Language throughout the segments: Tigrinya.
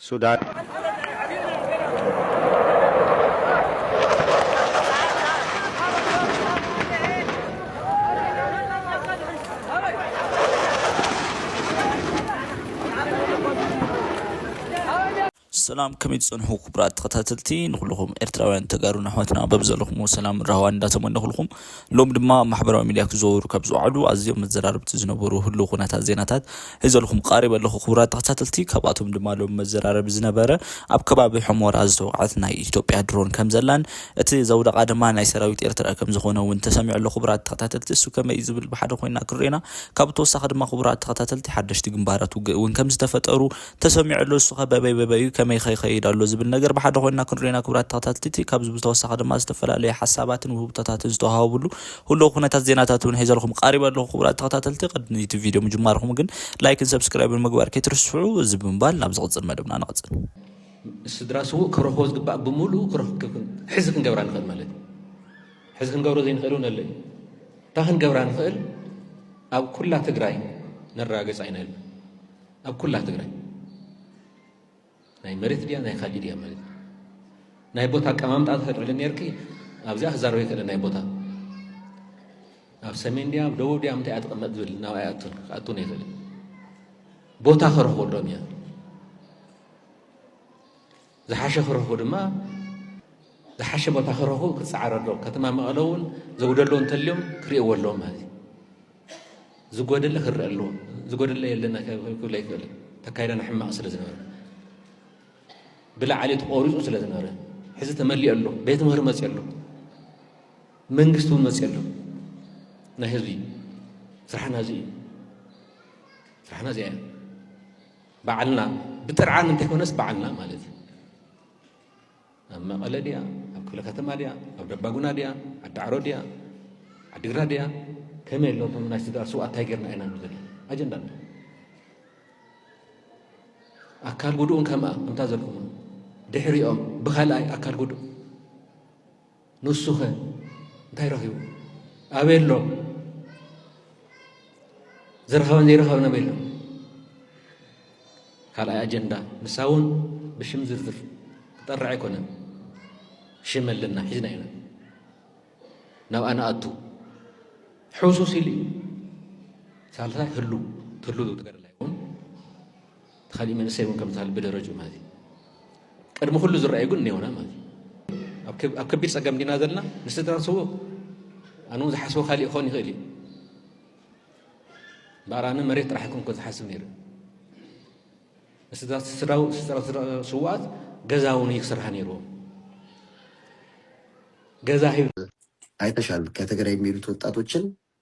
ሱዳን። ሰላም ከመይ ትጸንሑ ክቡራት ተኸታተልቲ ንኹልኹም ኤርትራውያን ተጋሩን ኣሕዋትና በብዘለኹምዎ ሰላምን ራህዋን እንዳተመነኹልኩም ሎሚ ድማ ኣብ ማሕበራዊ ሚድያ ክዘወሩ ካብ ዝወዓሉ ኣዝዮም መዘራረብቲ ዝነበሩ ህልው ኩነታት ዜናታት ሒዘልኩም ቃሪበ ኣለኹ ክቡራት ተኸታተልቲ ካብኣቶም ድማ ሎሚ መዘራረቢ ዝነበረ ኣብ ከባቢ ሑሞራ ዝተወቅዐት ናይ ኢትዮጵያ ድሮን ከምዘላን እቲ ዘውደቃ ድማ ናይ ሰራዊት ኤርትራ ከምዝኾነ እውን ተሰሚዑ ኣሎ ክቡራት ተኸታተልቲ እሱ ከመይ እዩ ዝብል ብሓደ ኮይና ክንሪኤና ካብ ተወሳኺ ድማ ክቡራት ተኸታተልቲ ሓደሽቲ ግንባራት ውግእ እውን ከምዝተፈጠሩ ተሰሚዑ ኣሎ እሱኸ በበይ በበይ'ዩ ከመይ'ኸ ይኸይድ ኣሎ ዝብል ነገር ብሓደ ኮይንና ክንሪኦ ኢና ክቡራት ተኸታተልቲ ካብዚ ብዝተወሳኺ ድማ ዝተፈላለዩ ሓሳባትን ውህብቶታትን ዝተወሃቡሉ ሁሉው ኩነታት ዜናታት እውን ሒዘልኹም ቃሪበ ኣለኹ ክቡራት ተኸታተልቲ ቅድሚ እቲ ቪድዮ ምጅማርኹም ግን ላይክን ሰብስክራይብን ምግባር ከይትርስዑ እዚ ብምባል ናብ ዝቕፅል መደብና ንቕፅል ስድራ ስውእ ክረኽቦ ዝግባእ ብምሉኡ ክረኽብ ሕዚ ክንገብራ ንኽእል ማለት እዩ ሕዚ ክንገብሮ ዘይንኽእል እውን ኣሎ እዩ እታ ክንገብራ ንኽእል ኣብ ኩላ ትግራይ ነረጋገፃ ኢና ኢልና ኣብ ኩላ ትግራይ ናይ መሬት ድያ ናይ ካሊእ ድያ ማለት ናይ ቦታ ኣቀማምጣ ተፈጥርሊ ነርኪ ኣብዚኣ ክዛረበ ይክእለ ናይ ቦታ ኣብ ሰሜን ድያ ኣብ ደቡብ ድያ ምንታይ እያ ትቕመጥ ዝብል ናብ ኣይኣቱን ክኣቱን ይኽእል ቦታ ከረኽበሎም እያ ዝሓሸ ክረኽቡ ድማ ዝሓሸ ቦታ ክረኽቡ ክጸዓር ኣለዎም። ከተማ መቐለ እውን ዘጉደሎ እንተልዮም ክርእይዎ ኣለዎም ማለት እዩ። ዝጎደለ ክርእ ኣለዎ። ዝጎደለ የለና ክብለ ይክእል ተካይዳና ሕማቕ ስለ ዝነበረ ብላዕሊ ተቖሪፁ ስለ ዝነበረ ሕዚ ተመሊኦ ኣሎ። ቤት ምህር መፅ ኣሎ። መንግስቲ እውን መፅ ኣሎ። ናይ ህዝቢ ስራሕና እዚ እዩ። ስራሕና እዚኣ እያ። ባዕልና ብጥርዓን እንተይኮነስ ባዕልና ማለት እዩ። ኣብ መቐለ ድያ ኣብ ክፍለ ከተማ ድያ ኣብ ደባጉና ድያ ዓዳዕሮ ድያ ዓዲግራት ድያ ከመይ ኣሎ እቶም ናይ ስድራ ስውኣት እንታይ ጌርና ኢና ንብል ኣጀንዳ ኣሎ ኣካል ጉድኡን ከምኣ ከምታ ዘልኩም ድሕሪኦም ብካልኣይ ኣካል ጉድኡ ንሱኸ እንታይ ረኺቡ ኣበይ ኣሎ ዝረኸበን ዘይረኸበን ኣበይ ኣሎ ካልኣይ ኣጀንዳ ንሳ እውን ብሽም ዝርዝር ክጠርዕ ኣይኮነን ሽም ኣለና ሒዝና ኢና ናብኣ ንኣቱ ሕሱስ ኢሉ እዩ ሳልሳይ ህሉ ትህሉ ዝትገርላ ይኹን እቲ ካሊእ መንእሰይ እውን ከምዚ ብደረጅኡ ማለት እዩ ቅድሚ ኩሉ ዝረኣዩ ግን እኔውና ማለት እዩ ኣብ ከቢድ ፀገም ዲና ዘለና ንስድራን ስውእ ኣነ እውን ዝሓስቦ ካሊእ ክኾን ይኽእል እዩ እምበኣር ኣነ መሬት ጥራሕ ይኮንኮ ዝሓስብ ነይሩ ስውኣት ገዛ እውን እዩ ክስርሃ ነይርዎም ገዛ ሂብ አይተሻል ከትግራይ የሚሄዱት ወጣቶችን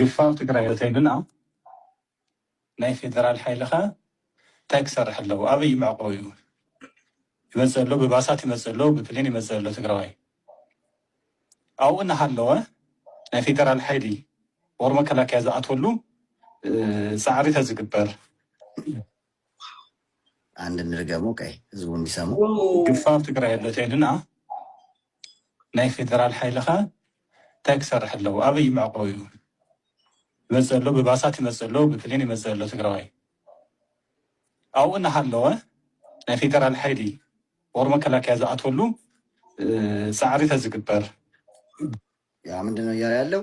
ግፋው ትግራይ እንተይልና ናይ ፌደራል ሓይሊ ከ እንታይ ክሰርሕ ኣለዎ ኣበይ እዩ መዕቆቢኡ ይመፅእ ኣሎ ብባሳት ይመፅእ ኣሎ ብፕሌን ይመፅእ ኣሎ ትግራዋይ ኣብኡ እናሃለወ ናይ ፌደራል ሓይሊ ወር መከላከያ ዝኣትወሉ ፃዕሪ ተዝግበር አንድ እንድገሞ ቀይ ህዝቡ እንዲሰሙ ግፋር ትግራይ ኣሎ ተይልና ናይ ፌደራል ሓይሊ ከ እንታይ ክሰርሕ ኣለዎ? ኣበይ እዩ መዕቆቢኡ? ይመፅእ ኣሎ ብባሳት ይመፅእ ኣሎ ብፕሌን ይመፅእ ኣሎ ትግራዋይ ኣብኡ እናሃለወ ናይ ፌደራል ሓይሊ ወር መከላከያ ዝኣትወሉ ፃዕሪ ተዝግበር ያ ምንድን ነው እያለ ያለው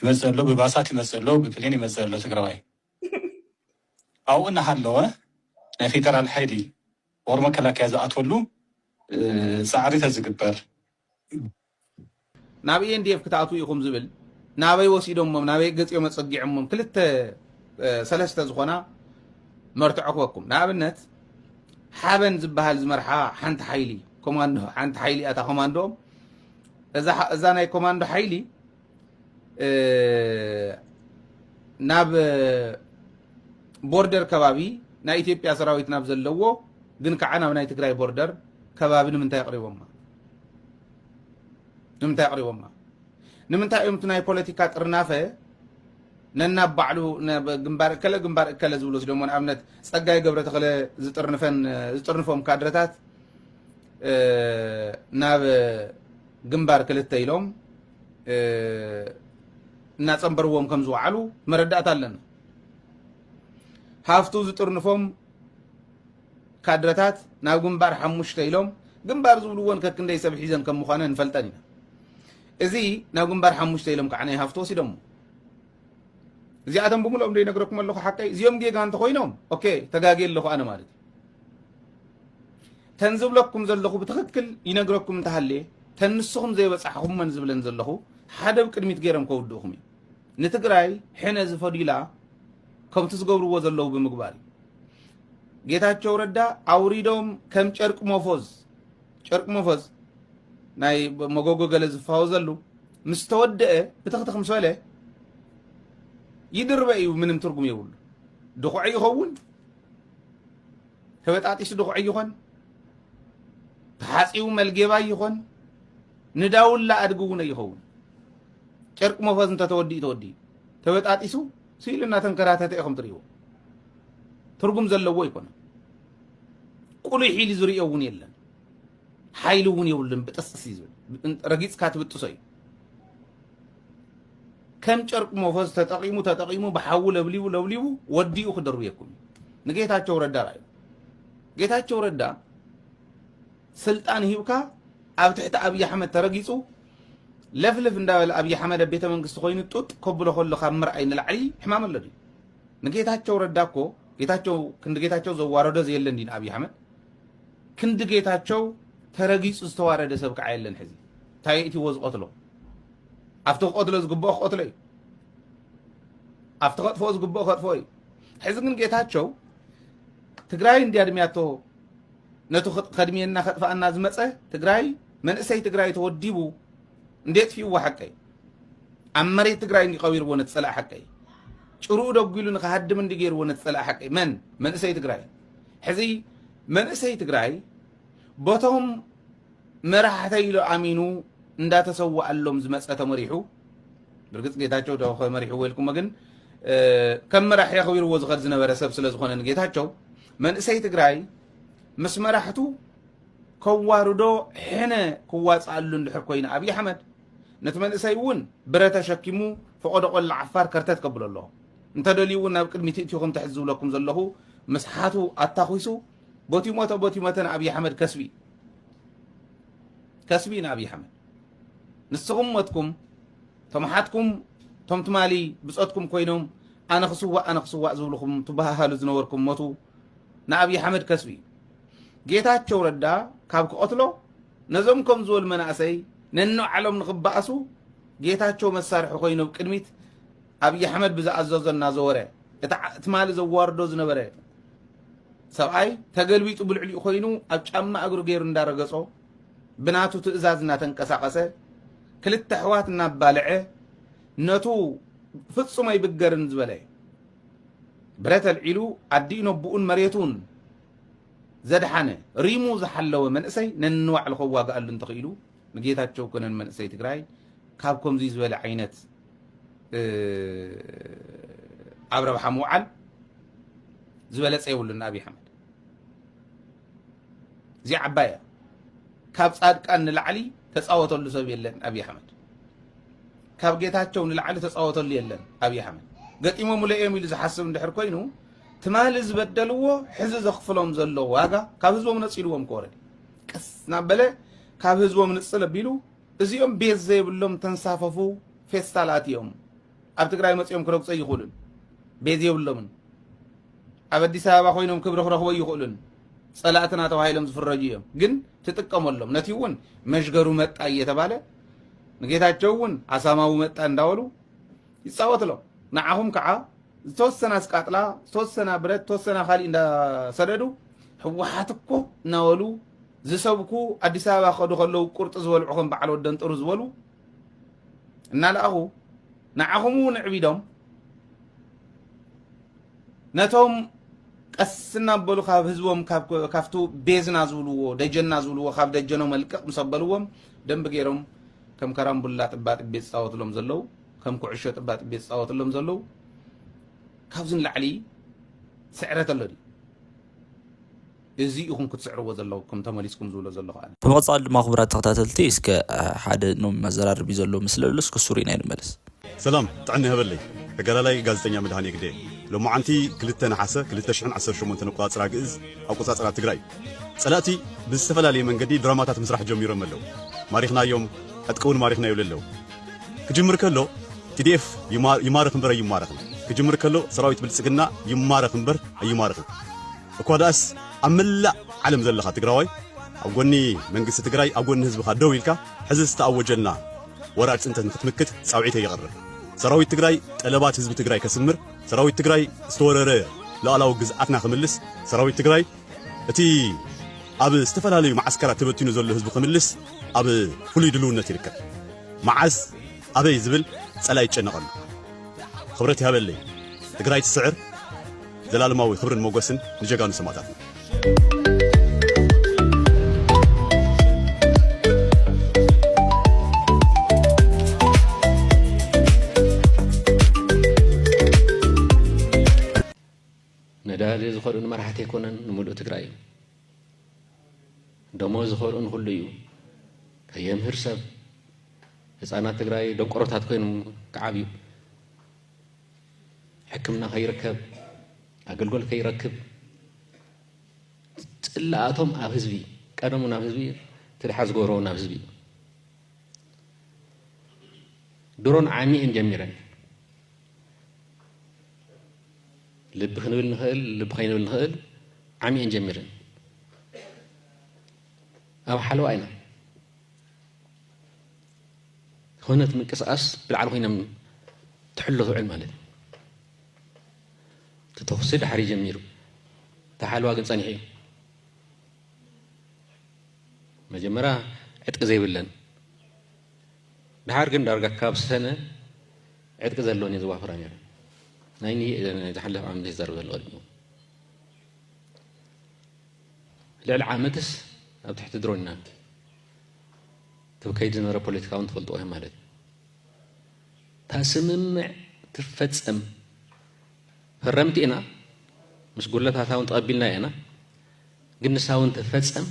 ይመፅእ ኣሎ ብባሳት ይመፅእ ኣሎ ብፕሌን ይመፅእ ኣሎ ትግራዋይ ኣብኡ እናሃለወ ናይ ፌደራል ሓይሊ ወር መከላከያ ዝኣትወሉ ፃዕሪ ተዝግበር ናብ ENDF ክትኣትዉ ኢኹም ዝብል ናበይ ወሲዶሞም ናበይ ገፂኦም ኣፀጊዖሞም ክልተ ሰለስተ ዝኾና መርትዖ ክበኩም ንኣብነት ሓበን ዝበሃል ዝመርሓ ሓንቲ ሓይሊ ኮማንዶ ሓንቲ ሓይሊ እያ እታ ኮማንዶኦም እዛ ናይ ኮማንዶ ሓይሊ ናብ ቦርደር ከባቢ ናይ ኢትዮጵያ ሰራዊት ናብ ዘለዎ ግን ከዓ ናብ ናይ ትግራይ ቦርደር ከባቢ ንምንታይ ኣቕሪቦማ ንምንታይ ኣቕሪቦማ ንምንታይ እዮም እቲ ናይ ፖለቲካ ጥርናፈ ነናብ ባዕሉ ግንባር እከለ ግንባር እከለ ዝብሉ ወሲዶሞ ንኣብነት ፀጋይ ገብረ ተኽለ ዝጥርንፈን ዝጥርንፎም ካድረታት ናብ ግንባር ክልተ ኢሎም እናፀንበርዎም ከም ዝወዓሉ መረዳእታ ኣለና ሃፍቱ ዝጥርንፎም ካድረታት ናብ ግንባር ሓሙሽተ ኢሎም ግንባር ዝብልዎን ከክንደይ ሰብ ሒዘን ከም ምዃነ ንፈልጠን ኢና እዚ ናብ ግንባር ሓሙሽተ ኢሎም ከዓ ናይ ሃፍቲ ወሲዶሞ እዚኣቶም ብምልኦም ዶ ይነግረኩም ኣለኹ ሓቀይ እዚኦም ጌጋ እንተኮይኖም ኦኬ ተጋጌ ኣለኹ ኣነ ማለት እዩ ተን ዝብለኩም ዘለኹ ብትኽክል ይነግረኩም እንተሃልየ ተን ንስኹም ዘይበጻሕኹመን ዝብለን ዘለኹ ሓደ ብቅድሚት ገይሮም ከውድእኹም እዩ ንትግራይ ሕነ ዝፈድዩላ ከምቲ ዝገብርዎ ዘለዉ ብምግባር እዩ ጌታቸው ረዳ ኣውሪዶም ከም ጨርቂ ሞፎዝ ጨርቂ ሞፎዝ ናይ መጎጎ ገለ ዝፋወዘሉ ምስ ተወደአ ብትኽትኽ ምስ በለ ይድርበ እዩ ምንም ትርጉም የብሉ ድኹዐ ይኸውን ተበጣጢሱ ድኹዒ ይኾን ተሓፂቡ መልጌባይ ይኾን ንዳውላ ኣድጊ እውን ኣይኸውን ጨርቂ መፈዝ እንተተወዲኡ ተወዲኡ ተበጣጢሱ ስኢሉ እናተንከራተተ ኢኹም ትሪእዎ ትርጉም ዘለዎ ይኮነ ቁሉይ ሒሉ ዝርኦ እውን የለን ሓይሊ እውን የብሉን ብጥስጥስ እዩ ዝብል ረጊፅካ ትብጥሶ እዩ ከም ጨርቂ ሞፈዝ ተጠቂሙ ተጠቂሙ ብሓዊ ለብሊቡ ለብሊቡ ወዲኡ ክድርብየኩም እዩ። ንጌታቸው ረዳ ራዩ ጌታቸው ረዳ ስልጣን ሂብካ ኣብ ትሕቲ ኣብይ ኣሕመድ ተረጊጹ ለፍልፍ እንዳበለ ኣብይ ኣሕመድ ኣብ ቤተ መንግስቲ ኮይኑ ጡጥ ከብሎ ከሎ ካብ ምርኣይ ንላዕሊ ሕማም ኣሎ ድዩ ንጌታቸው ረዳ እኮ ጌታቸው ክንዲ ጌታቸው ዘዋረዶ ዘየለ እንዲ ንኣብይ ኣሕመድ ክንዲ ጌታቸው ተረጊፁ ዝተዋረደ ሰብ ከዓ የለን ሕዚ እንታይ የእትዎ ዝቐትሎ ኣብቲ ክቐትሎ ዝግብኦ ክቐትሎ እዩ ኣብቲ ከጥፍኦ ዝግብኦ ከጥፍኦ እዩ ሕዚ ግን ጌታቸው ትግራይ እንዲ ኣድሚያቶ ነቱ ከድሚየና ከጥፋኣና ዝመፀ ትግራይ መንእሰይ ትግራይ ተወዲቡ እንዴት ፊዋ ሓቀይ ኣብ መሬት ትግራይ እንዲ ቀቢርዎ ነቲ ፀላእ ሓቀይ ጭርኡ ደጒሉ ንክሃድም እንዲ ገይርዎ ነቲ ፀላእ ሓቀይ መን መንእሰይ ትግራይ ሕዚ መንእሰይ ትግራይ በቶም መራሕተይ ኢሉ ኣሚኑ እንዳተሰዋኣሎም ዝመፀ ተመሪሑ ብርግፅ ጌታቸው ዶ ከመሪሕዎ ኢልኩሞ ግን እ፣ ከም መራሒ ኣኽቢርዎ ዝኸድ ዝነበረ ሰብ ስለ ዝኾነ ንጌታቸው መንእሰይ ትግራይ ምስ መራሕቱ ከዋርዶ ሕነ ክዋፅኣሉ እንድሕር ኮይኑ ኣብዪ ኣሕመድ ነቲ መንእሰይ እውን ብረ ተሸኪሙ ፈቐዶ ቆላ ዓፋር ከርተት ከብሎ ኣለዎ እንተደልዩ እውን ናብ ቅድሚት እእቲኹም ትሕት ዝብለኩም ዘለኹ ምስ ሓቱ ኣታኺሱ ቦቲ ሞተ ቦቲ መተ ንኣብዪ ኣሕመድ ከስቢ ከስቢ ንኣብዪ ኣሕመድ ንስኹም ሞትኩም ቶም ሓትኩም ቶም ትማሊ ብፆትኩም ኮይኖም ኣነ ክስዋእ ኣነ ክስዋእ ዝብልኹም ትበሃሃሉ ዝነበርኩም ሞቱ ንኣብዪ ኣሕመድ ከስቢ እዩ ጌታቸው ረዳ ካብ ክቐትሎ ነዞም ከም ዝበሉ መናእሰይ ነንባዕሎም ንኽበኣሱ ጌታቸው መሳርሒ ኮይኑ ኣብ ቅድሚት ኣብይ ኣሕመድ ብዝኣዘዞ እናዘወረ እቲ ዓ- ትማሊ ዘዋርዶ ዝነበረ ሰብኣይ ተገልቢጡ ብልዕሊኡ ኮይኑ ኣብ ጫማ እግሩ ገይሩ እንዳረገጾ ብናቱ ትእዛዝ እናተንቀሳቐሰ ክልተ ኣሕዋት እናባልዐ ነቱ ፍጹም ኣይብገርን ዝበለ ብረት ኣልዒሉ ኣዲኡ ነቡኡን መሬቱን ዘድሓነ ሪሙ ዝሓለወ መንእሰይ ነንዋዕሉ ከዋግኣሉ እንተኽኢሉ ንጌታቸው ኮነ ንመንእሰይ ትግራይ ካብ ከምዙይ ዝበለ ዓይነት ኣብ ረብሓ ምውዓል ዝበለፀ የብሉን ንኣብዪ ኣሕመድ እዚ ዓባይ እያ ካብ ፃድቃን ንላዕሊ ተፃወተሉ ሰብ የለን ኣብዪ ኣሕመድ ካብ ጌታቸው ንላዕሊ ተፃወተሉ የለን ኣብዪ ኣሕመድ ገጢሞምለ እዮም ኢሉ ዝሓስብ እንድሕር ኮይኑ ትማሊ ዝበደልዎ ሕዚ ዘኽፍሎም ዘሎ ዋጋ ካብ ህዝቦም ነፂልዎም ክወረድ ቀስ እናበለ ካብ ህዝቦም ንፅል ኣቢሉ እዚኦም ቤት ዘይብሎም ተንሳፈፉ ፌስታል ኣትዮም ኣብ ትግራይ መፅኦም ክረግፁ ኣይኽእሉን ቤት የብሎምን ኣብ ኣዲስ ኣበባ ኮይኖም ክብሪ ክረኽቦ ኣይኽእሉን ፀላእትና ተባሂሎም ዝፍረጁ እዮም ግን ትጥቀመሎም ነቲ እውን መሽገሩ መጣ እየተባለ ንጌታቸው እውን ኣሳማዊ መጣ እንዳበሉ ይጻወት ኣሎ ንዓኹም ከዓ ዝተወሰና ስቃጥላ ዝተወሰና ብረት ዝተወሰና ካሊእ እንዳሰደዱ ህወሓት እኮ እናበሉ ዝሰብኩ ኣዲስ ኣበባ ከዱ ከለዉ ቁርጢ ዝበልዑ ከም በዓል ወደን ጥሩ ዝበሉ እናለኣኹ ንዓኹም እውን ዕቢዶም ነቶም ቀስ እናበሉ ካብ ህዝቦም ካብቱ ቤዝና ዝብልዎ ደጀና ዝብልዎ ካብ ደጀኖም መልቀቕ ምስ ኣበልዎም ደንቢ ገይሮም ከም ከራምቡላ ጥባጥቤ ዝፃወትሎም ዘለዉ ከም ኩዕሾ ጥባጥቤ ዝፃወትሎም ዘለዉ ካብዚ ንላዕሊ ስዕረት ኣሎ ድዩ? እዚ ኢኹም ክትስዕርዎ ዘለኩም ተመሊስኩም ዝብሎ ዘለኹ ኣነ። ብመቐፃሊ ድማ ክቡራት ተኸታተልቲ እስከ ሓደ ኖም መዘራረቢ ዘሎ ምስሊ ኣሎ እስከ እሱ ሪእና ንመለስ። ሰላም ጥዕና ይሀበለይ ተጋዳላይ ጋዜጠኛ መድሃኔ ግደይ ሎምዓንቲ ክልተ ነሓሰ ክልተ ሽሕን ዓሰርተ ሸሞንተን ኣቆፃፅራ ግእዝ ኣቆፃፅራ ትግራይ ፀላእቲ ብዝተፈላለየ መንገዲ ድራማታት ምስራሕ ጀሚሮም ኣለው ማሪኽናዮም ዕጥቂ እውን ማሪኽናዮ ለለው ክጅምር ከሎ TDF ይማረኽ እምበር ኣይማረኽን ክጅምር ከሎ ሰራዊት ብልጽግና ይማረኽ እምበር ኣይማረኽን እኳ ደኣስ ኣብ መላእ ዓለም ዘለኻ ትግራዋይ ኣብ ጎኒ መንግስቲ ትግራይ ኣብ ጎኒ ህዝብኻ ደው ኢልካ ሕዚ ዝተኣወጀልና ወራር ፅንተት ንክትምክት ፃውዒተ ይቕርብ ሰራዊት ትግራይ ጠለባት ህዝቢ ትግራይ ከስምር ሰራዊት ትግራይ ዝተወረረ ሉዓላዊ ግዝኣትና ክምልስ ሰራዊት ትግራይ እቲ ኣብ ዝተፈላለዩ መዓስከራት ተበቲኑ ዘሎ ህዝቢ ክምልስ ኣብ ፍሉይ ድልውነት ይርከብ። መዓስ ኣበይ ዝብል ጸላኢ ይጨነቐሉ። ኽብረት ይሃበለይ ትግራይ ትስዕር ዘላለማዊ ኽብርን ሞገስን ንጀጋኑ ሰማእታትና። ነዳዲ ዝኸርኡ ንመራሕቲ ኣይኮነን ንምሉእ ትግራይ እዩ ደሞ ዝኸርኡ ንኹሉ እዩ ከየምህር ሰብ ህፃናት ትግራይ ደንቆሮታት ኮይኖም ክዓብዩ ሕክምና ከይርከብ ኣገልግሎት ከይረክብ ፅላኣቶም ኣብ ህዝቢ ቀደሙ ናብ ህዝቢ ትድሓ ዝገብረዎ ናብ ህዝቢ ድሮን ዓሚኤን ጀሚረን ልቢ ክንብል ንኽእል ልቢ ከይንብል ንኽእል ዓሚየን ጀሚረን ኣብ ሓለዋ ኢና ኮነት ምንቅስቓስ ብልዓል ኮይኖም ትሕሎ ትውዕል ማለት እዩ እቲ ተኽሲ ድሓር ጀሚሩ እቲ ሓለዋ ግን ፀኒሑ እዩ መጀመርያ ዕጥቂ ዘይብለን ድሓር ግን ዳርጋ ካብ ሰነ ዕጥቂ ዘለወን እየ ዝዋፍራ ነይረ ናይ ናይ ዝሓለፈ ዓመት ዝዛረብ ዘሎ ቀዲሙ ልዕሊ ዓመትስ ኣብ ትሕቲ ድሮን ኢና ክብ ከይድ ዝነበረ ፖለቲካ እውን ትፈልጥዎ እዮም ማለት እዩ እታ ስምምዕ ትፈፀም ፈረምቲ ኢና ምስ ጉለታታ እውን ተቐቢልና ኢና ግን ንሳ እውን ትፈፀም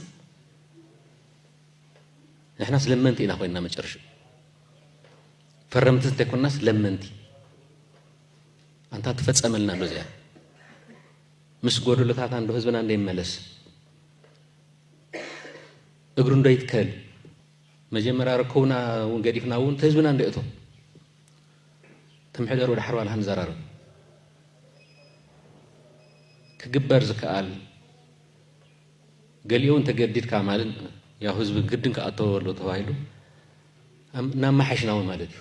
ንሕናስ ለመንቲ ኢና ኮይንና መጨረሻ ፈረምቲ እንተይኮናስ ለመንቲ ኣንታ ትፈፀመልና ዶ እዚኣ ምስ ጎደሎታታ እንዶ ህዝብና እንዶ ይመለስ እግሩ እንዶ ይትከል መጀመርያ ረከቡና እውን ገዲፍና እውን ተህዝብና እንዶ እቶ ትምሕደር ወደ ሓርባ ልሃን ዘራርብ ክግበር ዝከኣል ገሊኡውን ተገዲድካ ማለት ያው ህዝቢ ግድን ክኣተዎ ኣሎ ተባሂሉ እናመሓሽናዊ ማለት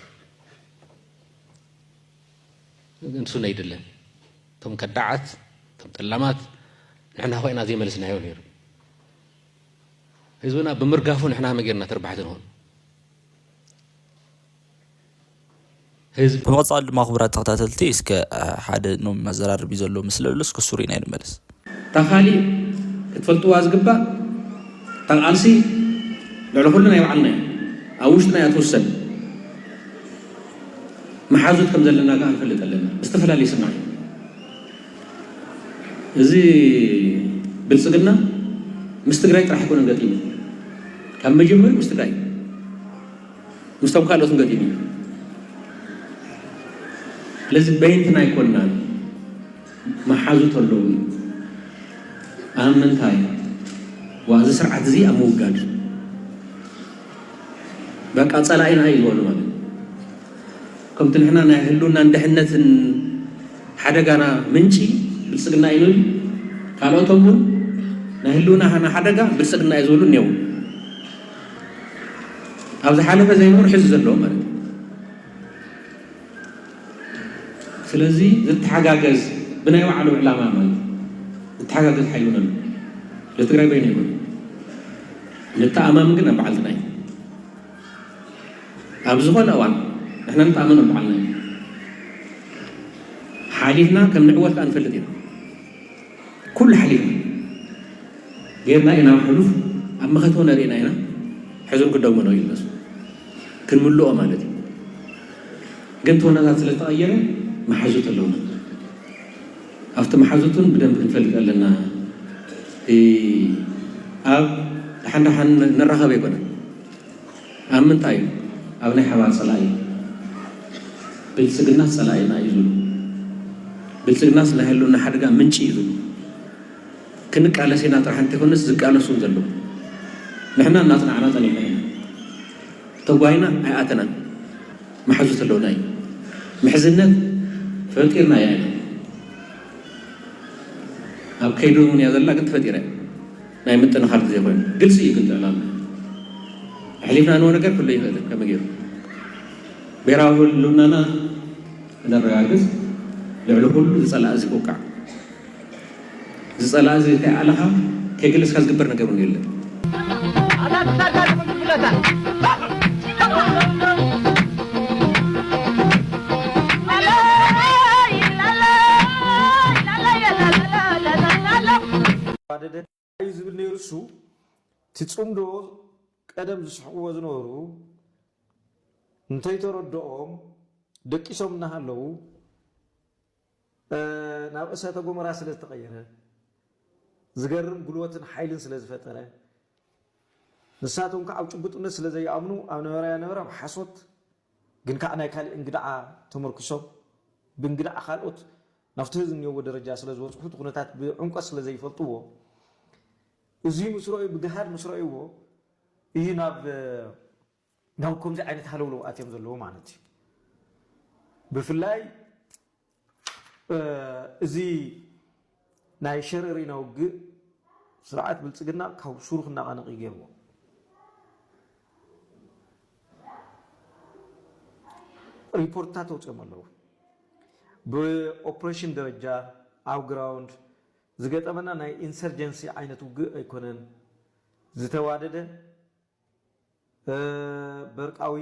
እዩ ንሱ ነይድለን እቶም ከዳዓት እቶም ጠላማት ንሕና ኮይና ዘይመለስናዮ ነይሩ ህዝብና ብምርጋፉ ንሕና መጌርና ተርባሕቲ ንኾን ህዝቢ። ብምቕጻል ድማ ክቡራት ተኸታተልቲ እስከ ሓደ ኖም መዘራረቢ ዘለዎ ምስሊ ኣሎ እስከ እሱ ሪእና ንመለስ። እታ ካሊእ ክትፈልጥዋ ዝግባእ እታ ቃልሲ ልዕሊ ኩሉ ናይ ባዕልና እያ ኣብ ውሽጥና እያ ትውሰን መሓዙት ከም ዘለና ከኣ ንፈልጥ ኣለና ብዝተፈላለየ ስምዒት እዚ ብልጽግና ምስ ትግራይ ጥራሕ ኣይኮነን ገጢሙ ካብ መጀመርኡ ምስ ትግራይ ምስቶም ካልኦትን ገጢሙ እዩ። ስለዚ በይንትና ኣይኮናን መሓዙት ኣለዉ እዩ። ኣብ ምንታይ ዋ እዚ ስርዓት እዚ ኣብ ምውጋድ በቃ ፀላኢና እዩ ዝበሉ ማለት ከምቲ ንሕና ናይ ህልውናን ድሕነትን ሓደጋና ምንጪ ብልፅግና እዩ ንብል ካልኦቶም እውን ናይ ህልውናና ሓደጋ ብልፅግና እዩ ዝብሉ እኔው ኣብ ዝሓለፈ ዘይንቡር ሕዚ ዘለዎ ማለት እዩ። ስለዚ ዝተሓጋገዝ ብናይ ባዕሉ ዕላማ ማለት ዝተሓጋገዝ ሓይሉ ነሉ ለትግራይ በይኑ ይብሉ ንተኣማምን ግን ኣብ በዓልትና እዩ። ኣብ ዝኾነ እዋን ንሕና ንተኣመን በዓልና እዩ ሓሊፍና ከም ንዕወት ከዓ ንፈልጥ ኢና። ኩሉ ሓሊፍና ጌርና ኢና ሕሉፍ ኣብ መኸት ወነ ርኢና ኢና ሕዙን ክደግሞ ነው ይለሱ ክንምልኦ ማለት እዩ ግን ተወነታት ስለተቐየረ መሓዙት ኣለውና ኣብቲ መሓዙቱን ብደንብ ክንፈልጥ ኣለና ኣብ ደሓን ደሓን ንራኸብ ኣይኮነን ኣብ ምንታይ ኣብ ናይ ሓባር ጸላኢ ብልጽግናስ ጸላኢና እዩ ዝብሉ ብልጽግናስ ናይ ህልውና ሓደጋ ምንጪ እዩ ዝብሉ ክንቃለስ ኢና ጥራሕ እንተይኮነስ ዝቃለሱ እውን ዘለዉ ንሕና እናጽናዕና ጸኒሕና ኢና ተጓይና ኣይኣተናን መሓዙት ኣለውና እዩ ምሕዝነት ፈጢርና እያ ኢና ኣብ ከይዲ እውን እያ ዘላ ግን ተፈጢረ ናይ ምጥንኻር ግዜ ኮይኑ ግልፂ እዩ ግን ጥዕናና ኣሕሊፍና ንሆ ነገር ክህሉ ኣይኽእልን ከመይ ገይሩ ብሄራዊ ህልውናና ክነረጋግፅ ልዕሊ ኩሉ ዝፀላእ እዚ ክውቃዕ ዝፀላእ እዚ ከይኣለኻ ከይገለፅካ ዝግበር ነገር እውን የለን ኣደዳ እዩ ዝብል ነይሩ እሱ እቲ ፅምዶ ቀደም ዝስሕቅዎ ዝነበሩ እንተይተረደኦም ደቂሶም እናሃለዉ ናብ እሰተ ጎመራ ስለ ዝተቀየረ ዝገርም ጉልበትን ሓይልን ስለ ዝፈጠረ ንሳቶም ከዓ ኣብ ጭቡጥነት ስለ ዘይኣምኑ ኣብ ነበረ ያነበረ ኣብ ሓሶት ግን ከኣ ናይ ካልእ እንግድዓ ተመርኲሶም ብእንግድዓ ካልኦት ናብቲ ህዝቢ እኒኦዎ ደረጃ ስለ ዝበጽሑ እቲ ኩነታት ብዕምቆት ስለ ዘይፈልጥዎ እዙይ ምስ ረኣዩ ብገሃድ ምስ ረኣዩዎ እዩ ናብ ናብ ከምዚ ዓይነት ሃለውለው ኣትዮም ዘለዉ ማለት እዩ ብፍላይ እዚ ናይ ሸረሪና ውግእ ስርዓት ብልፅግና ካብ ሱሩ ክነቓነቕ እዩ ገይርዎ። ሪፖርትታት ተውፅኦም ኣለዉ። ብኦፕሬሽን ደረጃ ኣብ ግራውንድ ዝገጠመና ናይ ኢንሰርጀንሲ ዓይነት ውግእ ኣይኮነን፣ ዝተዋደደ በርቃዊ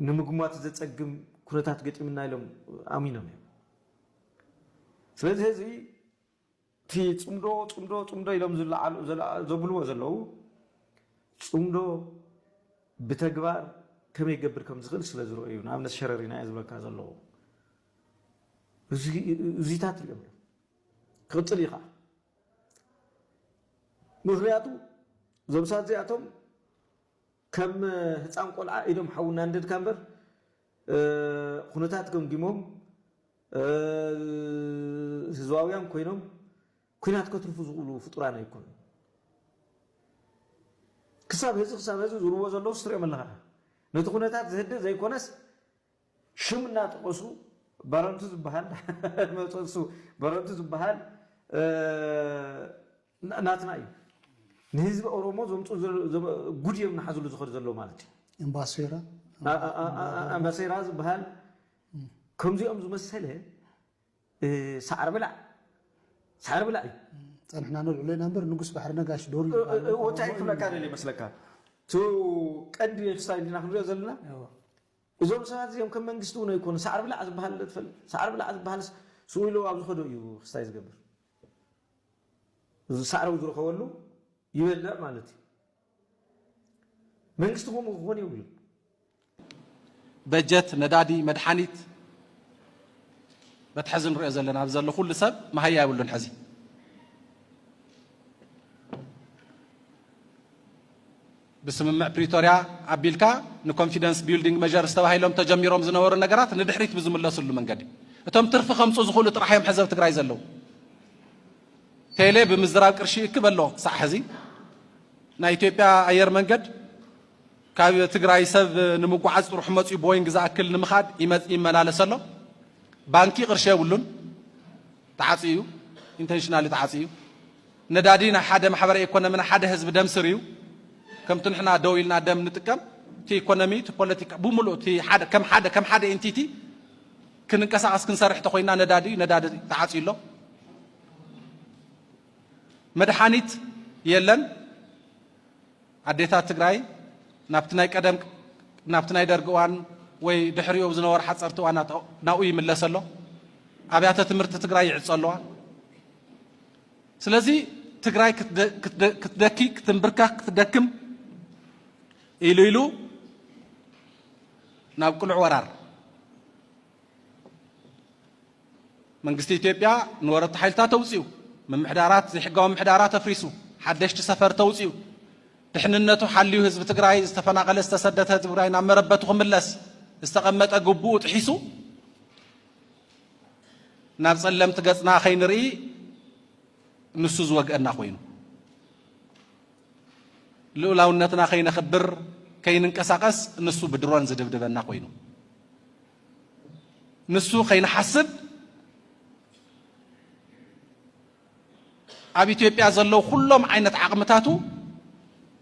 ንምግሟት ዘጸግም ኩነታት ገጢምና ኢሎም ኣሚኖም እዮም። ስለዚ ህዚ እቲ ጽምዶ ጽምዶ ጽምዶ ኢሎም ዘብልዎ ዘለዉ ጽምዶ ብተግባር ከመይ ክገብር ከም ዝኽእል ስለ ዝረኦ እዩ ንኣብነት ሸረሪና እየ ዝብለካ ዘለዎ እዚታት ሪኦም እዮም ክቕፅል እዩ ከዓ ምኽንያቱ እዞም ሳት እዚኣቶም ከም ህፃን ቆልዓ ኢዶም ሓዊ እናንደድካ እምበር ኩነታት ገምጊሞም ህዝባውያን ኮይኖም ኩናት ከትርፉ ዝኽእሉ ፍጡራን ኣይኮኑ ክሳብ ህዚ ክሳብ ህዚ ዝርዎ ዘለዉ ስትሪኦም ኣለኻ ነቲ ኩነታት ዝህድእ ዘይኮነስ ሽም እናጠቐሱ በረንቱ ዝበሃል መፀሱ በረንቱ ዝበሃል ናትና እዩ ንህዝቢ ኦሮሞ ዘምፁ ጉድ እዮም ናሓዝሉ ዝኸዱ ዘሎ ማለት እዩ እምባሴራ ኣምባሴራ ዝበሃል ከምዚኦም ዝመሰለ ሳዕሪ ብላዕ ሳዕሪ ብላዕ እዩ ፀንሕና ነልዕሎ ኢና እምበር ንጉስ ባሕሪ ነጋሽ ዶር ወታይ ክብለካ ደልየ መስለካ እቲ ቀንዲ ክስታይ እንዲና ክንሪኦ ዘለና እዞም ሰባት እዚኦም ከም መንግስቲ እውን ኣይኮኑን። ሳዕሪ ብላዕ ዝበሃል ዶ ትፈልጥ? ሳዕሪ ብላዕ ዝበሃልስ ስቕ ኢሉ ኣብ ዝኸዶ እዩ ክስታይ ዝገብር። ሳዕሪ ኣብ ዝረኸበሉ ይበልዕ ማለት እዩ። መንግስቲ ከምኡ ክኾን የብሉን። በጀት፣ ነዳዲ፣ መድሓኒት በቲ ሕዚ ንሪኦ ዘለና ኣብዚ ዘሎ ኩሉ ሰብ መሃያ የብሉን ሕዚ። ብስምምዕ ፕሪቶርያ ኣቢልካ ንኮንፊደንስ ቢልዲንግ መዠርስ ተባሂሎም ተጀሚሮም ዝነበሩ ነገራት ንድሕሪት ብዝምለስሉ መንገዲ እቶም ትርፊ ከምፅኡ ዝኽእሉ ጥራሕ እዮም ሕዚ ኣብ ትግራይ ዘለዉ። ቴሌ ብምዝራብ ቅርሺ ይእክብ ኣሎ ክሳዕ ሕዚ። ናይ ኢትዮጵያ ኣየር መንገድ ካብ ትግራይ ሰብ ንምጉዓዝ ጥርሑ መፅኡ ቦይንግ ዝኣክል ንምኻድ ይመላለስ ኣሎ። ባንኪ ቅርሺ የብሉን ተዓፅዩ እዩ። ኢንተንሽናሊ ተዓፅዩ እዩ። ነዳዲ ናይ ሓደ ማሕበረ ኢኮኖሚ ናይ ሓደ ህዝቢ ደም ስር እዩ። ከምቲ ንሕና ደው ኢልና ደም ንጥቀም እቲ ኢኮኖሚ እቲ ፖለቲካ ብሙሉእ እቲ ከም ሓደ ከም ሓደ ኢንቲቲ ክንንቀሳቐስ ክንሰርሕ ተኮይና ነዳዲ ነዳዲ ተዓፅዩ ኣሎ። መድሓኒት የለን። ኣዴታት ትግራይ ናብቲ ናይ ቀደም ናብቲ ናይ ደርጊ እዋን ወይ ድሕሪኡ ዝነበሩ ሓፀርቲ እዋናት ናብኡ ይምለስ ኣሎ። ኣብያተ ትምህርቲ ትግራይ ይዕፆ ኣለዋ። ስለዚ ትግራይ ክትደኪ ክትንብርከኽ ክትደክም ኢሉ ኢሉ ናብ ቅሉዕ ወራር መንግስቲ ኢትዮጵያ ንወረርቲ ሓይልታት ተውፅኡ ምምሕዳራት ዘይሕጋዊ ምሕዳራ ተፍሪሱ ሓደሽቲ ሰፈር ተውፅኡ ድሕንነቱ ሓልዩ ህዝቢ ትግራይ ዝተፈናቐለ ዝተሰደተ ህዝቢ ትግራይ ናብ መረበቱ ክምለስ ዝተቐመጠ ግቡኡ ጥሒሱ ናብ ጸለምቲ ገጽና ከይንርኢ ንሱ ዝወግአና ኮይኑ ልኡላውነትና ከይነኽብር ከይንንቀሳቐስ ንሱ ብድሮን ዝድብድበና ኮይኑ ንሱ ከይንሓስብ ኣብ ኢትዮጵያ ዘለዉ ኩሎም ዓይነት ዓቕምታቱ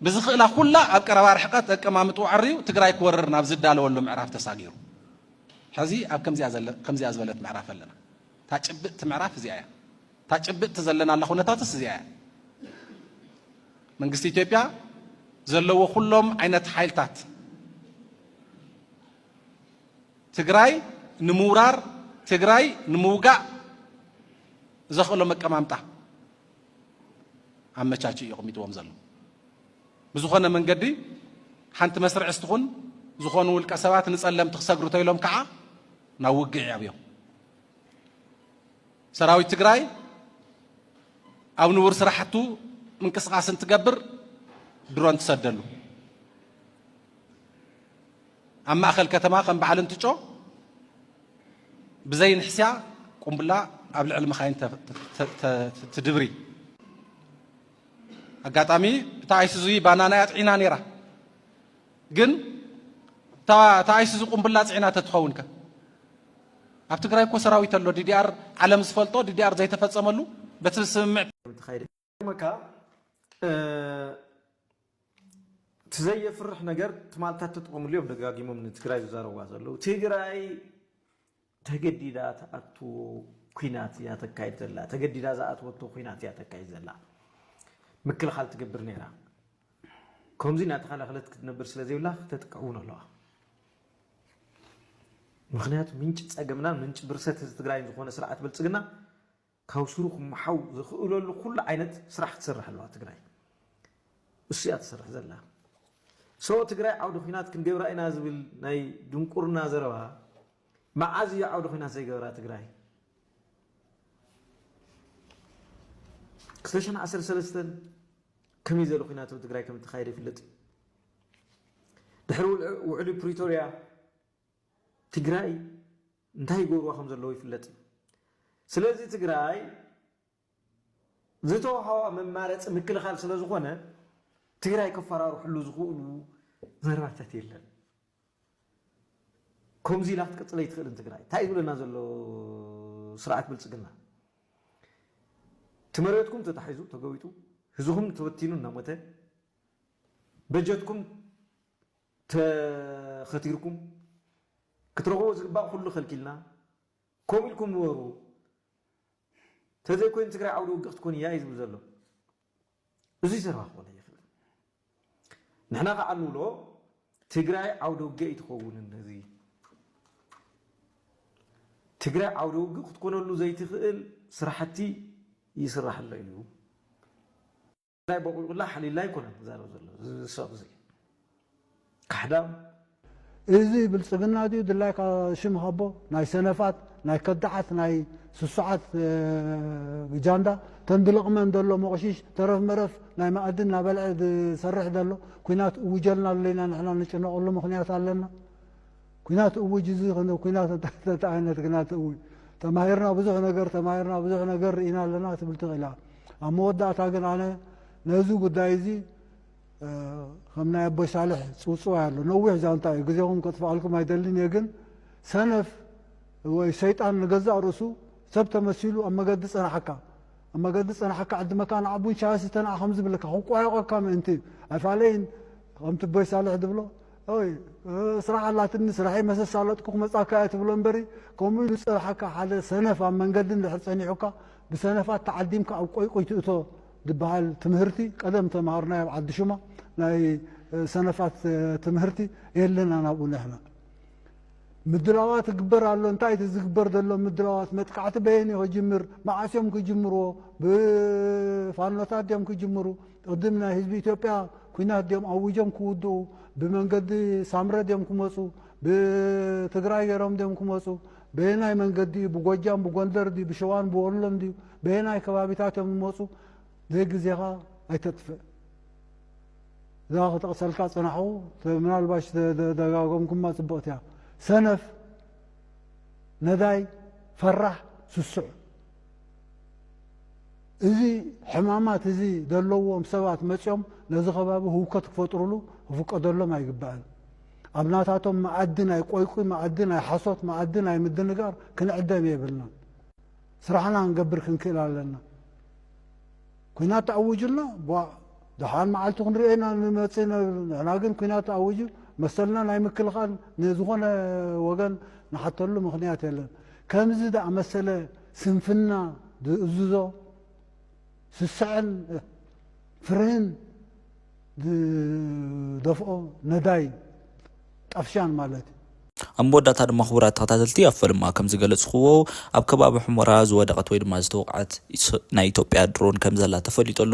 ብዝኽእላ ኩላ ኣብ ቀረባ ርሕቀት ኣቀማምጥኡ ኣዐርዩ ትግራይ ክወርር ናብ ዝዳለወሉ ምዕራፍ ተሳጊሩ ሕዚ ኣብ ከምዚኣ ዝበለት ምዕራፍ ኣለና። እታ ጭብጥቲ ምዕራፍ እዚኣ እያ። እታ ጭብጥቲ ዘለናላ ኩነታትስ እዚኣ እያ። መንግስቲ ኢትዮጵያ ዘለዎ ኩሎም ዓይነት ሓይልታት ትግራይ ንምውራር ትግራይ ንምውጋእ ዘኽእሎም ኣቀማምጣ ኣመቻችኡ እዩ ኣቕሚጥዎም ዘሎ። ብዝኾነ መንገዲ ሓንቲ መስርዕ ስትኹን ዝኾኑ ውልቀ ሰባት ንጸለምቲ ክሰግሩ ተይሎም ከዓ ናብ ውግዕ ይኣብዮም። ሰራዊት ትግራይ ኣብ ንቡር ስራሕቱ ምንቅስቓስ እንትገብር ድሮን ትሰደሉ ኣብ ማእኸል ከተማ ከም በዓል እንትጮ ብዘይ ንሕስያ ቁምብላ ኣብ ልዕሊ መኻይን ትድብሪ። ኣጋጣሚ እታ ኣይሱዙ ባናና እያ ፅዒና ነይራ። ግን እታ ኣይሱዙ ቁምብላ ፅዒና ተትኸውን ከ ኣብ ትግራይ እኮ ሰራዊት ኣሎ ዲዲኣር ዓለም ዝፈልጦ ዲዲኣር ዘይተፈፀመሉ በቲ ስምምዕ ክገርመካ እቲ ዘየፍርሕ ነገር ትማልታት ተጠቐምሉ እዮም ደጋጊሞም ንትግራይ ዝዛረብዋ ዘለዉ ትግራይ ተገዲዳ ትኣትዎ ኩናት እያ ተካይድ ዘላ ተገዲዳ ዝኣትወቶ ኩናት እያ ተካይድ ዘላ ምክልኻል ትገብር ነይራ ከምዚ እናተኸላኸለት ክትነብር ስለ ዘይብላ ክተጥቅዕ እውን ኣለዋ ምክንያቱ ምንጭ ፀገምና ምንጭ ብርሰት ህዝቢ ትግራይን ዝኾነ ስርዓት ብልፅግና ካብ ሱሩ ክመሓው ዝኽእለሉ ኩሉ ዓይነት ስራሕ ትሰርሕ ኣለዋ ትግራይ። እሱ እያ ትሰርሕ ዘላ። So ትግራይ ዓውደ ኹናት ክንገብራ ኢና ዝብል ናይ ድንቁርና ዘረባ መዓዝ እዩ ዓውደ ኹናት ዘይገበራ ትግራይ? ክልተ ሽሕን ዓሰርተ ሰለስተን ከመይ ዝበለ ኩናት ኣብ ትግራይ ከም እተኻየደ ይፍለጥ እዩ። ድሕሪ ውዕሊ ፕሪቶርያ ትግራይ እንታይ ይገብርዋ ከም ዘለዉ ይፍለጥ እዩ። ስለዚ ትግራይ ዝተውሃዋ መማረፂ ምክልኻል ስለ ዝኾነ ትግራይ ከፈራርሕሉ ዝኽእሉ ዘረባታት የለን። ከምዚ ኢላ ክትቅፅል ኣይትኽእልን ትግራይ። እንታይ ዝብለና ዘሎ ስርዓት ብልፅግና እቲ መሬትኩም ተታሒዙ ተገዊጡ ህዝኹም ተበቲኑ እናሞተ በጀትኩም ተኸቲርኩም ክትረኽብዎ ዝግባእ ኩሉ ከልኪልና ከምኡ ኢልኩም ንበሩ ተዘይኮይኑ ትግራይ ዓውዲ ውግእ ክትኮን እያ እዩ ዝብል ዘሎ እዙይ ዘረባ ክኾነ ይኽእል ንሕና ከዓ ንብሎ ትግራይ ዓውደ ውግእ ኣይትኸውን እነዚ ትግራይ ዓውደ ውግእ ክትኮነሉ ዘይትኽእል ስራሕቲ ይስራሕ ኣሎ እዩ ናይ ቦቂቁላ ሓሊላ ኣይኮነን ዝዛረብ ዘሎ እዚ ሰቕ እዚ ካሕዳም። እዚ ብልጽግና ድዩ ድላይካ ሽም ሃቦ ናይ ሰነፋት ናይ ከዳዓት ናይ ስሱዓት ጃንዳ ተን ድልቕመን ደሎ ሞቕሺሽ ተረፍ መረፍ ናይ መኣዲ እናበልዐ ዝሰርሕ ደሎ ኩናት እውጀልና ኣሎ ኢና ንሕና ንጭነቐሉ ምኽንያት ኣለና ኩናት እውጅ እዚ ከነ ኩናት እንታይ ዓይነት ግናት እውጅ ተማሂርና ብዙሕ ነገር ተማሂርና ብዙሕ ነገር ርኢና ኣለና ትብል ትኽእል እያ ኣብ መወዳእታ ግን ኣነ ነዚ ጉዳይ እዚ ከም ናይ ኣቦይ ሳልሕ ጽውጽዋይ ኣሎ ነዊሕ ዛንታ እዩ ግዜኹም ከጥፍኣልኩም ኣይደልን እየ ግን ሰነፍ ወይ ሰይጣን ንገዛእ ርእሱ ሰብ ተመሲሉ ኣብ መገዲ ጸናሓካ ኣብ መገዲ ጸናሓካ ዕዲ መካን ዓቡን ሻያሲ ተናዓ ከም ዝብለካ ክቋየቆካ ምእንቲ ኣይፋለይን ከምቲ ቦይ ሳልሕ ዝብሎ ኦይ ስራሕ ኣላትኒ ስራሐይ መሰሳለጥኩ ክመጻካ እየ ትብሎ እምበሪ ከምኡ ኢሉ ዝጸርሓካ ሓደ ሰነፍ ኣብ መንገዲ እንድሕር ጸኒሑካ ብሰነፋት ተዓዲምካ ኣብ ቆይቁይ ትእቶ ድበሃል ትምህርቲ ቀደም ተማሃርናዮ ኣብ ዓዲ ሹማ ናይ ሰነፋት ትምህርቲ የለና ናብኡ ንሕና ምድላዋት ይግበር ኣሎ እንታይ እቲ ዝግበር ዘሎ ምድላዋት መጥቃዕቲ በየን ክጅምር መዓስ እዮም ክጅምርዎ ብፋኖታት ድዮም ክጅምሩ ቅድም ናይ ህዝቢ ኢትዮጵያ ኩናት ድዮም ኣዊጆም ክውድኡ ብመንገዲ ሳምረ ድዮም ክመፁ ብትግራይ ገይሮም ድዮም ክመፁ በየናይ መንገዲ እዩ ብጎጃም ብጎንደር ድዩ ብሸዋን ብወሎን ድዩ በየናይ ከባቢታት እዮም ዝመፁ ዘይግዜኻ ኣይተጥፍእ እዛ ክጠቕሰልካ ፅናሑ ምናልባሽ ደጋገምኩማ ፅብቕቲ እያ ሰነፍ ነዳይ ፈራሕ ስሱዕ እዚ ሕማማት እዚ ዘለዎም ሰባት መጺኦም ነዚ ከባቢ ህውከት ክፈጥሩሉ ክፍቀደሎም ኣይግባእን። ኣብ ናታቶም መኣዲ ናይ ቆይቊይ መኣዲ ናይ ሓሶት መኣዲ ናይ ምድንጋር ክንዕደም የብልናን። ስራሕና ክንገብር ክንክእል ኣለና። ኩናት ተኣዊጁልና ቧእ ደሓን መዓልቲ ክንሪኦ ኢና ንመጽእ ነብል ንሕና ግን ኩናት ተኣዊጁ መሰልና ናይ ምክልኻል ንዝኾነ ወገን ንሓተሉ ምኽንያት የለን። ከምዚ ዝኣመሰለ ስንፍና ዝእዝዞ ስስዐን ፍርህን ዝደፍኦ ነዳይ ጣፍሻን ማለት እዩ። ኣብ መወዳእታ ድማ ክቡራት ተኸታተልቲ ኣብ ፈለማ ከም ዝገለጽክዎ ኣብ ከባቢ ሑመራ ዝወደቐት ወይ ድማ ዝተወቕዐት ናይ ኢትዮጵያ ድሮን ከም ዘላ ተፈሊጡ ኣሎ።